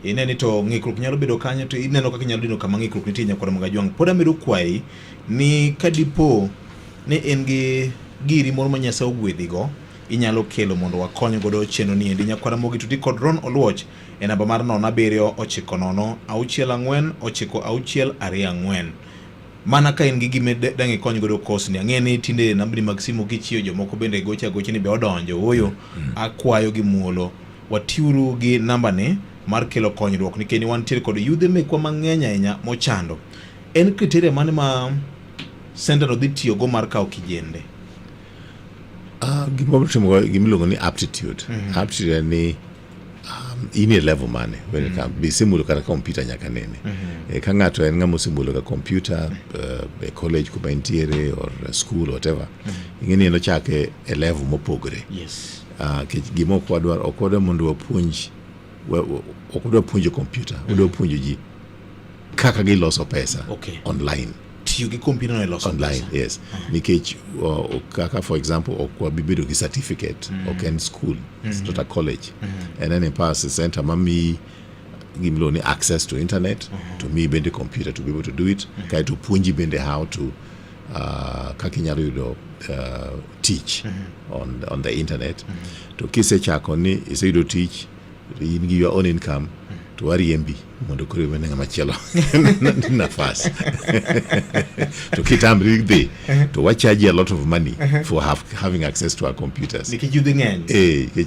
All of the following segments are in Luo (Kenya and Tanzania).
ine ni to ng'ikruok nyalo bedo kanyo to ineno kaka inyalo dino kama ng'ikruok nitie nyakwara mag ajwang' pod amedo kwayi ni ka dipo ni in gi giri moro ma nyasaye ogwedhigo inyalo kelo mondo wakony godo chenro ni endi nyakwara mogi tuti kod ron oluoch e namba mar nono abiriyo ochiko nono auchiel ang'wen ochiko auchiel ariyo ang'wen mana ka in gi gime dang' ikony godo kosni ang'e ni tinde nambni mag simu kichiyo jomoko bende gocha gocha ni be odonjo ooyo akwayo gi muolo Watiuru gi nambani mar kelo konyruok nikech wantiere kod yudhe mekwa mang'eny ahinya mochando. En kriteria mane ma sentano dhi tiyogo mar kawo kijende? Uh, gima watimo gima iluongo ni aptitude mm -hmm. aptitude en ni um, in e level mane when it mhm. comes be isemulo kata kompyuta nyaka nene mm -hmm. e, ka ng'ato en ng'ama osemulo ka kompyuta uh, e college kuma entiere or school whatever mm -hmm. ing'eni en ochake e level mopogore yes. Ah, kech gima ok wadwar ok wadwar mondo wapuonj wa- wa- ok wadwar puonjo kompyuta wadwar puonjo ji kaka giloso pesa Okay. online tiyo gi kompyuta no e loso online pesa. yes nikech uh, kaka for example ok wabi bedo gi certificate ok en school it's not a college and then in past center mami gimiluongo ni access to internet to mi bende computer to be able to do it kaeto puonji bende how to uh, kaka inyalo yudo uh, tich mm -hmm. on, on the internet mm -hmm. to kisechako ni iseyudo tich in gi your own income mm -hmm. to wariembi mondo koro iwene ng'ama chielo nafas to kitamri dhi uh-huh. to wachaji a lot of money uh-huh. for have, having access to our computers nikech yudhi ng'eny eh, eh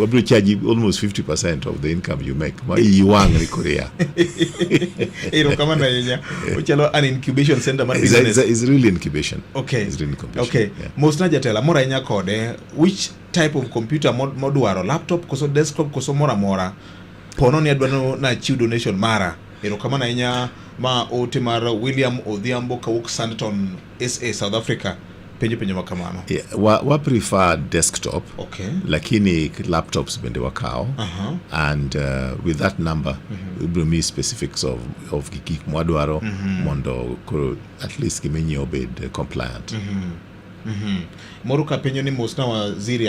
wabiro chaji almost 50% of the income you make ma iwang' ni korea erokamano ahinya ochalo an incubation center mar business is really incubation okay is really incubation okay yeah. mosna jatela mora ahinya kode which type of computer modwaro laptop koso desktop koso mora mora pono ni adwano na chiw donation mara erokamano ahinya ma ote mar William Odhiambo kawuok Santon SA South Africa penjo penjo ma kamano yeah, wa, wa prefer desktop okay. lakini laptops bende wakawo uh -huh. and uh, with that number mm -hmm. ibiro mi specifics of, of gik mwadwaro mm -hmm. mondo koro at least gimenyi obed compliant mm -hmm. mm -hmm. moro ka penjo ni mos na waziri